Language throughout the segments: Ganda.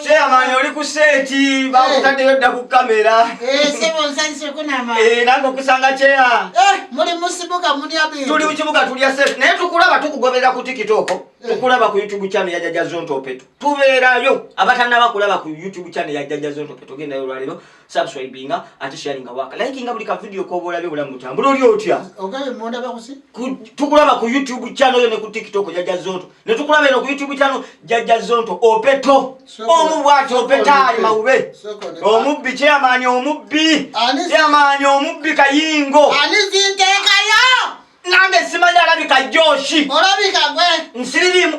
kyeyamaanyi oli ku seeti bakutaddeyo dda ku kamera nange okusanga kyeya tuli mukibuga tulya seeti naye tukulaba tukugoberera ku tikitoko tukulaba ku youtube channel ya jaja zontopeto tubeerayo abatanaba kulaba ku youtube channel ya jaja zontopeto gendayo olwaleero subscribinga ate sharinga waka likinga buli ka video ko bolabe bulamu tambula oli otya ogabe monda bakusi tukulaba ku youtube channel yo ne ku tiktok ya jazonto ne tukulaba eno ku youtube channel ya jazonto opeto omu bwati opetali maube omu bi chairman omu bi chairman omu bi kayingo ani zinte kayo nange simanya alabika joshi olabika gwe nsirimu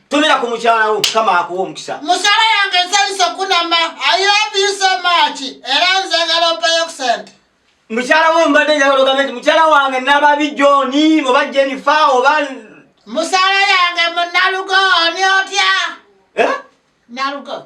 tumira ku mukyala wo mukama akuwa omukisa musala yange nsanyusa okunama ayobisemaaki era nzagala opeyo ku sente mukyala wo mbadde njagala ogambe nti mukyala wange nababi joni oba jenifa oba musala yange munalugo oni otya eh? nalugo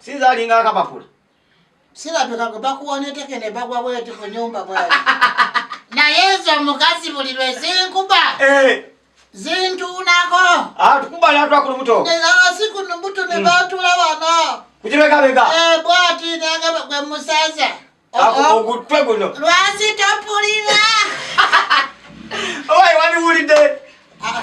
sinza alinga akapapula sirabika bakuwa neteke nebagwa bweti ku nyumba bwai naye ezo omukazi buli lwe zinkuba eh. zintuunako ah, tukuba natwakulu buto asiku ah, nubuto ne hmm. batula bana kukibekabeka eh, bwati nagaba gwe musaza ogutwe guno lwasi topulira owaye waliwulidde ah,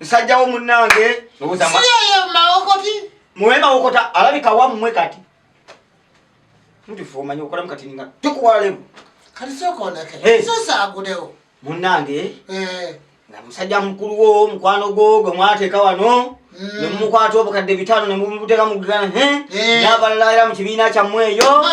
nsajja wo munnange muwe mawokota alabika wammwe kati mutufu omanyi okolamu kati ninga tukuwalemu kati sokoneke sosa agudewo munnange eh. nga musajja mukulu wo mukwano gwo gwe mwateeka wano mm. nemukwata obukadde bitaano nemumuteeka mugana eh. n'abalala era mu kibiina kyammwe eyo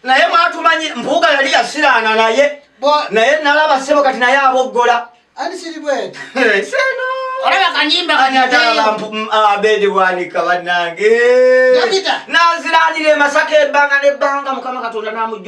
naye mwatumanyi mpuuga yali yasiraana naye naye nalaba sebo kati naye aboggola abedi bwanika banange naziranira emasaka ebbanga nebbanga mukama katonda namuj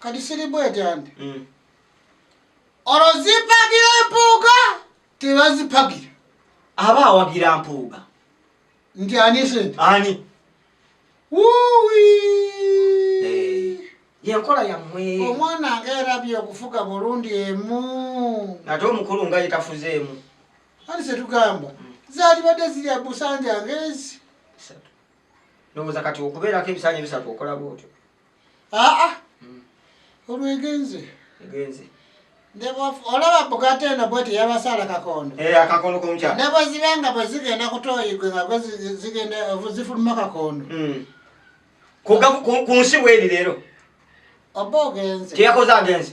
kati siri bwetandi mm. olwo zipagira empuuga tebazipagira aba awagira mpuuga nti ani sente ani wuwi eh, yenkola yammwe omwana nga erabye okufuga bulundi emu ate omukulu nga yetafuze emu ani setugamba mm. zalibadde ziri abusanja ngezi ndowooza kati okubeerako ebisanja ebisatu okola bwotyo aa olwegenze egenze olaba bugate eno bwe teyabasaala kakondo eh, akakondo komukyala ne bwe ziba nga bwe zigenda kutoyigwe nga gwe zigenda zifuluma kakondo hmm. ku nsi bweri leero oba ogenze teyakoze agenze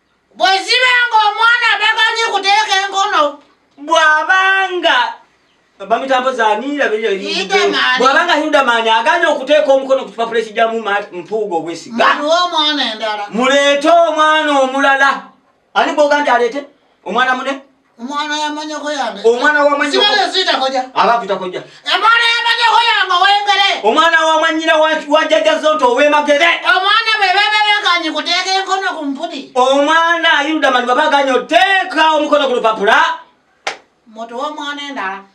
bwe ziba ng'omwana taganyi kuteeka enkono bw'abanga bamitambo zanirabwabanga hidamani aganye okuteeka omukono ku kipapula ekijjamu mpuuga obwesiga muleete omwana omulala ani gwoga nti aleete omwana mune Omwana yamanyoko yange. Omwana wa manyoko. Sibale zita koja. Ala kuta koja. Omwana yamanyoko yange wengere. Omwana wa manyira wa wa jaja zonto we magere. Omwana be be be kanyi kuteka enkono ku mpudi. Omwana ayuda mali baba kanyo teka omukono ku lupapula. Moto wa mwana endala.